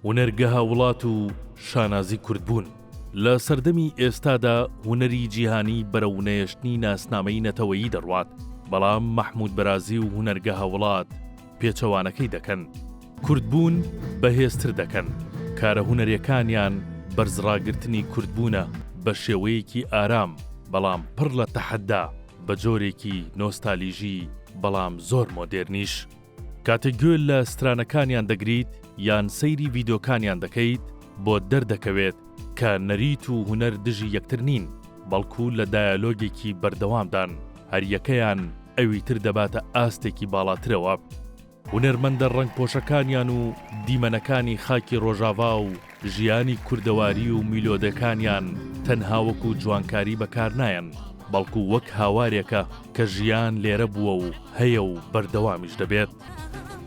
هونەرگەها وڵات و شانازی کوردبوون لە سەردەمی ئێستادا هونەری جیهانی بەرەونەیەشتنی ناسنامەی نەتەوەیی دەڕوات بەڵام مەحموود بەرازی و هونەرگەها وڵات پێچەوانەکەی دەکەن کوردبوون بەهێزتر دەکەن کارە هونەرەکانیان بەرزڕاگررتنی کوردبوونە بە شێوەیەکی ئارام بەڵام پڕ لە تەحەدا بە جۆرێکی نۆستالیژی بەڵام زۆر مۆدێرنیش. کاتێک گوێ لە سترانەکانیان دەگریت یان سەیری ڤیدۆکانیان دەکەیت بۆت دەردەکەوێت کە نەریت و هونەر دژی یەکتر نین بەڵکو لە دایەلۆگێکی بەردەوامدان هەریەکەیان ئەوی تر دەباتە ئاستێکی باڵاترەوە. هونەرمەندە ڕەنگپۆشەکانیان و دیمەنەکانی خاکی ڕۆژاڤا و ژیانی کوردەواری و میلۆدەکانیان تەنها وەکو جوانکاری بەکارنایەن، بەڵکو وەک هاوارێکە کە ژیان لێرە بووە و هەیە و بەردەوامیش دەبێت.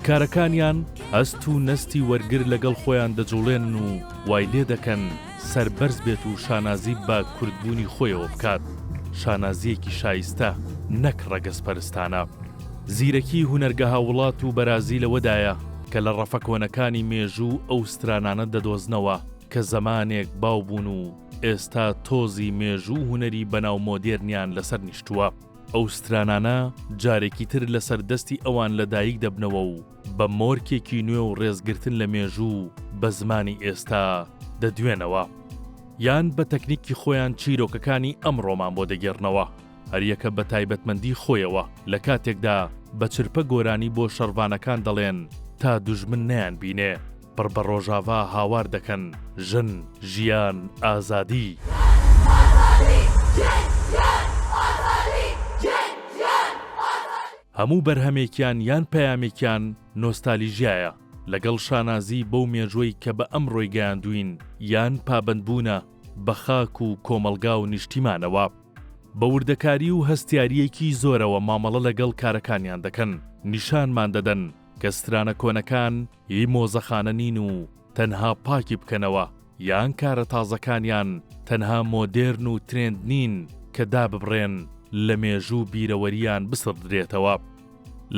کارەکانیان هەست و نەستی وەرگر لەگەڵ خۆیان دەجوڵێنن و وای لێدەکەن سەربەرز بێت و شانازی بە کوردبوونی خۆیەوە بکات، شانازییەکی شایستە نەک ڕەگەزپەرستانە. زیرەکی هونەرگەها وڵات و بەرازی لەوەدایە کە لە ڕەفە کۆنەکانی مێژوو ئەو سترانانە دەدۆزنەوە کە زەمانێک باو بوون و ئێستا تۆزی مێژوو و هونەری بەناو مۆدێرنیان لەسەر نیشتووە. ئەو سترانانە جارێکی تر لەسەر دەستی ئەوان لە دایک دەبنەوە و بە مۆرکێکی نوێ و ڕێزگرتن لە مێژوو بە زمانی ئێستا دەدوێنەوە یان بە تەکنیکی خۆیان چیرۆکەکانی ئەمڕۆمان بۆ دەگێڕنەوە. هەریەکە بە تایبەتمەندی خۆیەوە لە کاتێکدا بە چرپە گۆرانی بۆ شەڕڤانەکان دەڵێن تا دوژمن نەیان بینێ پڕ بە ڕۆژاڤا هاوار دەکەن ژن، ژیان، ئازادی. هەموو بەرهەمێکیان یان پەیامێکیان نۆستالیژیایە لەگەڵ شانازی بەو مێژوەی کە بە ئەمڕۆی گەیاندووین یان پابەندبوونە بە خاک و کۆمەڵگا و نیشتیمانەوە. بە وردەکاری و هەستیارییەکی زۆرەوە مامەڵە لەگەڵ کارەکانیان دەکەن، نیشانمان دەدەن کە سترانە کۆنەکان هی مۆزەخانە نین و تەنها پاکی بکەنەوە، یان کارە تازەکانیان تەنها مۆدێرن و ترێند نین کە داببڕێن، لە مێژوو و بیرەوەرییان بسڕدرێتەوە.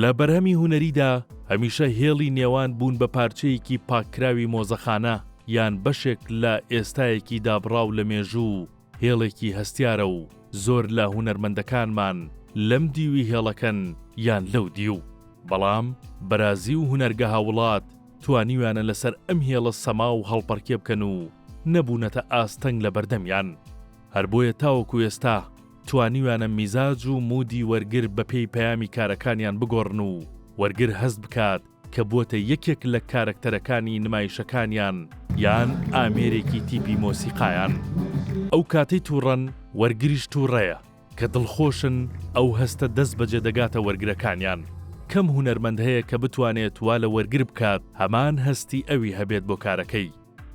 لە بەرهەمی هونەریدا هەمیشە هێڵی نێوان بوون بە پارچەیەکی پاککراوی مۆزەخانە یان بەشێک لە ئێستایەکی دابڕاو لە مێژوو و هێڵێکی هەستیارە و زۆر لە هونەرمەندەکانمان لەم دیوی هێڵەکەن یان لەو دیو. بەڵام بەرازی و هونەرگە هاوڵات توانیویانە لەسەر ئەم هێڵە سەما و هەڵپەڕکێ بکەن و نەبوونەتە ئاستەنگ لە بەردەمیان. هەر بۆیە تاوەکو ئێستا توانیویانە میزاج و مودی وەرگر بەپێی پەیامی کارەکانیان بگۆڕن و وەرگر هەست بکات کە بووەتە یەکێک لە کارەکتەرەکانی نمایشەکانیان یان ئامێرێکی تیپی مۆسیقایان. ئەو کاتەی تووڕەن، وەرگریش تووڕەیە، کە دڵخۆشن، ئەو هەستە دەستبەجێ دەگاتە وەرگرەکانیان. کەم هونەرمەند هەیە کە بتوانێت وا لە وەرگر بکات هەمان هەستی ئەوی هەبێت بۆ کارەکەی.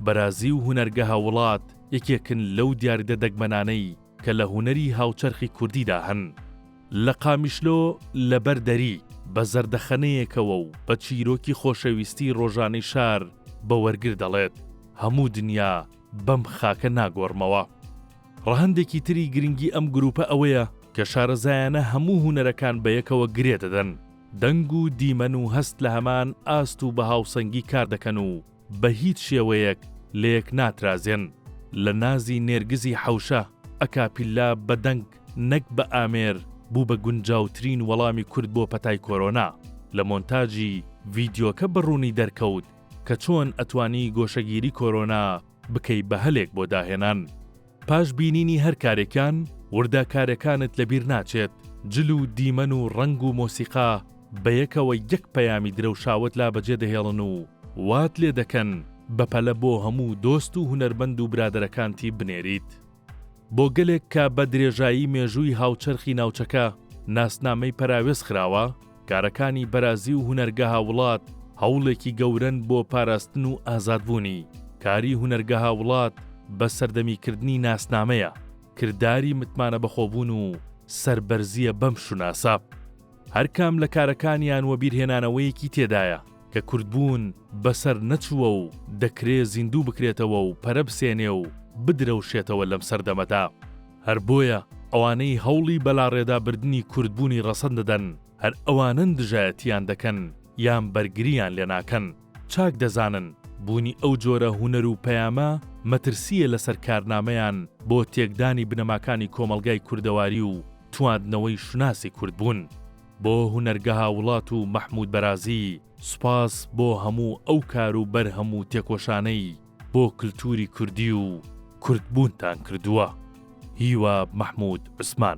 بەرازی و هونەرگەها وڵات یەکێکن لەو دیاردە دەگمەنانەی کە لە هونەری هاوچەرخی کوردیدا هەن. لە قامیشلۆ لەبەر دەری، بە زەردەخەنەیەکەوە و بە چیرۆکی خۆشەویستیی ڕۆژانەی شار بە وەرگر دەڵێت، هەموو دنیا بەم خاکە ناگۆڕمەوە. ڕەهەندێکی تری گرنگی ئەم گرووپە ئەوەیە کە شارەزایانە هەموو هونەرەکان بە یەکەوە گرێ دەدەن، دەنگ و دیمەن و هەست لە هەمان ئاست و بە هاوسەنگی کار دەکەن و، بە هیچ شێوەیەک لەیەک ناترازێن. لە نازی نێرگزی حەوشە، ئەکاپیلا بە دەنگ نەک بە ئامێر بوو بە گونجاوترین وەڵامی کورد بۆ پەتای کۆرۆنا. لە مۆنتاجی ڤیدیۆکە بە ڕوونی دەرکەوت کە چۆن ئەتوانی گۆشەگیری کۆرۆنا بکەی بە هەلێک بۆ داهێنان. پاش بینینی هەر کارێکیان وردەکارەکانت لەبیر ناچێت، جل و دیمەن و ڕەنگ و مۆسیقا بەیەکەوە یەک پەیامی درەوشاوەت لا بەجێ دەهێڵن و وات لێ دەکەن بەپەلە بۆ هەموو دۆست و هونەرمەند و برادەرەکانتی بنێریت بۆ گەلێک کە بە درێژایی مێژووی هاوچەرخی ناوچەکە ناسنامەی پەراوێز خراوە، کارەکانی بەرازی و هونەرگەها وڵات هەوڵێکی گەورەن بۆ پاراستن و ئازادبوونی، کاری هونەرگەها وڵات بە سەردەمیکردنی ناسنامەیە، کرداری متمانەبەخۆبوون و سەربەرزییە بەم شوناسە. هەرکام لە کارەکانیان وەبیرهێنانەوەیەکی تێدایە کە کوردبوون بەسەر نەچووە و دەکرێ زیندوو بکرێتەوە و پەرە بسێنێ و بدرەوشێتەوە لەم سەردەمەدا. هەر بۆیە ئەوانەی هەوڵی بەلاڕێدابردنی کوردبوونی ڕەسەن دەدەن، هەر ئەوانەن دژایەتییان دەکەن یان بەرگرییان لێ ناکەن. چاک دەزانن بوونی ئەو جۆرە هونەر و پەیامە مەترسییە لەسەر کارنامەیان بۆ تێکدانی بنەماکانی کۆمەڵگای کوردەواری و تواندنەوەی شوناسی کوردبوون. بۆ هونەرگە هاوڵات و مەحموود بەرازی، سوپاس بۆ هەموو ئەو کار و بەرهەم و تێکۆشانەی بۆ کلتوری کوردی و کورد بوونتان کردووە. هیوا مەحمود عوسمان.